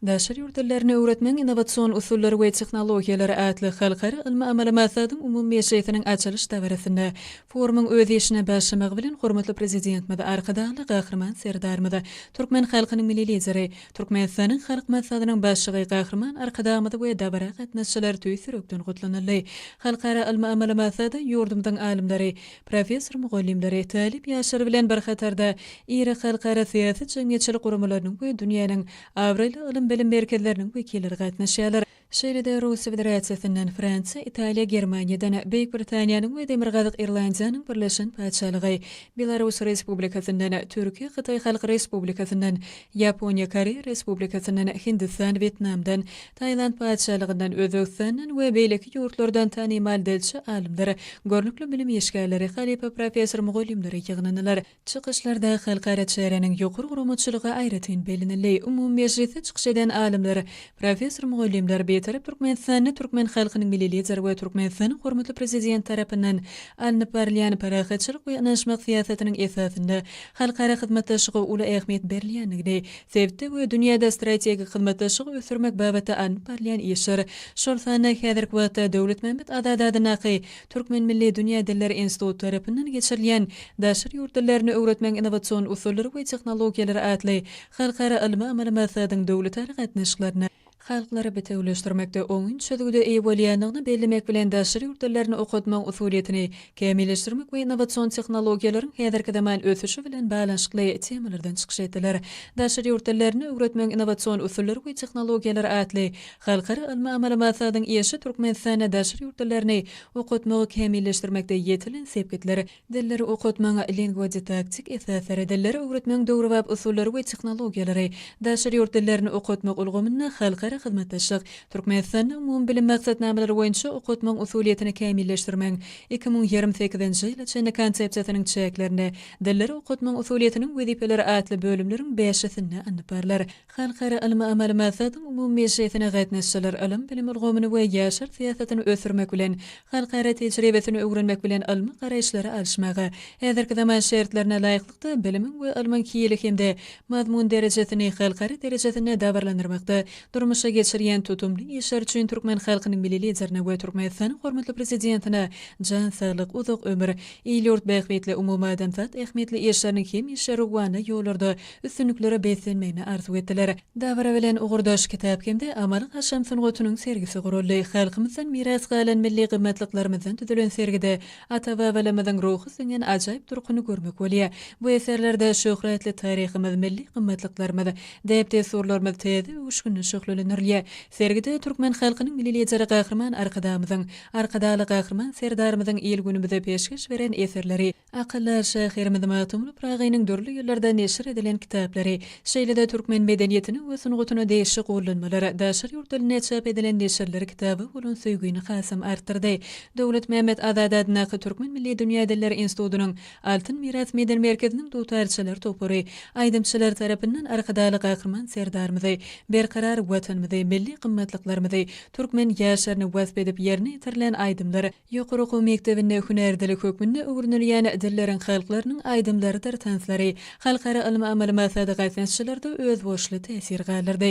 Daşary ýurt dillerini öwretmegiň innowasion usullary we tehnologiýalary atly halkara ylmy-amaly maslahatyň umumy mejlisiniň açylyş dabarasynda forumyň öz işine başlamagy bilen hormatly Prezidentimiz Arkadagly Gahryman Serdarymyz, türkmen halkynyň Milli Lideri, Türkmenistanyň Halk Maslahatynyň Başlygy Gahryman Arkadagymyz we dabara gatnaşyjylar tüýs ýürekden gutlanyldy. Halkara ylmy-amaly maslahata ýurdumyzyň alymlary, Professor mugallymlary, talyp ýaşlar bilen bir hatarda iri halkara syýasy-jemgyýetçilik guramalarynyň we dünýäniň abraýly ylym-bilim merkezleriniň wekilleri gatnaşýarlar. Şeýle-de Russiýa Federasiýasyndan, Fransiýa, Italiýa, Germaniýadan, Beýik Britaniýanyň we Demirgazyk Irlandiýanyň Birleşen Patyşalygy, Belarus Respublikasyndan, Türkiýe, Hytaý Halk Respublikasyndan, Ýaponiýa, Koreýa Respublikasyndan, Hindistan, Wýetnamdan, Tailand Patyşalygyndan, Özbegistandan we beýleki ýurtlardan tanymal dilçi alymlar, görnükli bilim işgärleri, halypa professor mugallymlary ýygnandylar. Çykyşlarda halkara çäräniň ýokary guramaçylygy aýratyn bellenildi. Umumy mejlisde çykyş eden alymlar, professor mugallymlar Bitarap Türkmenistanda türkmen halkynyň Milli Lideri we Türkmenistanyň hormatly Prezidenti tarapyndan alnyp barylýan parahatçylyk we ynanyşmak syýasatynyň esasynda halkara hyzmatdaşlyga uly ähmiýet berilýändigini sebitde we dünýäde strategik hyzmatdaşlygy ösdürmek babatda alnyp barylýan işler, şol sanda häzirki wagtda Döwletmämmet Azady adyndaky Türkmen milli dünýä dilleri instituty tarapyndan geçirilýän Daşary ýurt dillerini öwretmegiň innowasion usullary we tehnologiýalary atly halkara ylmy-amaly maslahatyň döwletara gatnaşyklaryna halklary bitewüleşdirmekde oňyn çözgüde eýe bolýandygyny bellemek bilen, daşary ýurt dillerini okatmagyň usulyýetini kämilleşdirmek we innowasion tehnologiýalaryň häzirki zaman ösüşi bilen baglanyşykly temalardan çykyş etdiler. Daşary ýurt dillerini öwretmegiň innowasion usullary we tehnologiýalary atly halkara ylmy-amaly maslahatyň işi Türkmenistanda daşary ýurt dillerini okatmagy kämilleşdirmekde ýetilen sepgitler, Dilleri okatmagyň lingwodidaktik esaslary, dilleri öwretmegiň döwrebap usullary we tehnologiýalary, daşary ýurt dillerini okatmak ulgamynda halkara hyzmatdaşlyk, Türkmenistanda umumybilim maksatnamalary boýunça okatmagyň usulyýetini kämilleşdirmegiň iki müň ýigrimi sekizinji ýyla çenli konsepsiýasynyň çäklerinde dilleri okatmagyň usulyýetiniň wezipeleri atly bölümleriň bäşisinde alnyp barlar. Halkara ylmy-amaly maslahatyň umumy mejlisine gatnaşyjylar ylym-bilim ulgamyny we ýaşlar syýasatyny ösdürmek bilen, halkara tejribesini öwrenmek bilen ylmy garaýyşlary alyşmaga, häzirki zaman şertlerine laýyklykda bilimiň we ylmyň hili hem-de mazmun derejesini halkara derejesinde dabaralandyrmakda durmuşa geçirýän tutumly işleri üçin türkmen halkynyň Milli Liderine we Türkmenistanyň hormatly Prezidentine jan saglyk, uzak ömür, il-ýurt bähbitli umumadamzat ähmiýetli işleriniň hemişe rowana ýollarda üstünliklere beslenmegini arzuw etdiler. Dabara bilen ugurdaş kitap hem-de amaly-haşam sungatynyň sergisi guraldy. Halkymyzdan miras galan milli gymmatlyklarymyzdan düzülen sergide ata-babalarymyzyň ruhy siňen ajaýyp durkuny görmek bolýar. Bu eserlerde şöhratly taryhymyz, milli gymmatlyklarymyz, däp-dessurlarymyz täze öwüşginde şöhlelendirilýär. Sergide türkmen halkynyň Milli Lideri Gahryman Arkadagymyzyň, Arkadagly Gahryman Serdarymyzyň il-günümize peşgeş beren eserleri, Akylly şahyrymyz Magtymguly Pyragynyň dürli ýyllarda neşir edilen kitaplary, şeýle-de türkmen medeniýetine we sungatyna degişli gollanmalar, daşary ýurt dilinde çap edilen neşirler kitaba bolan söýgini hasam artdyrdy. Döwletmämmet Azady adyndaky Türkmen milli dünýä dilleri institutynyň Altyn miras medeni merkeziniň dutarçylar topary aýdymçylar tarapyndan Arkadagly Gahryman Serdarymyzy, berkarar Watanymyzy, milli gymmatlyklarymyzy, türkmen ýaşlaryny wasp edip ýerine ýetirilen aýdymlar Ýokary okuw mekdebinde hünär dili hökmünde öwrenilýän dilleriň halklarynyň aýdymlarydyr tanslary halkara ylmy-amaly maksady gatnaşyjylarda özboluşly täsir galdyrdy.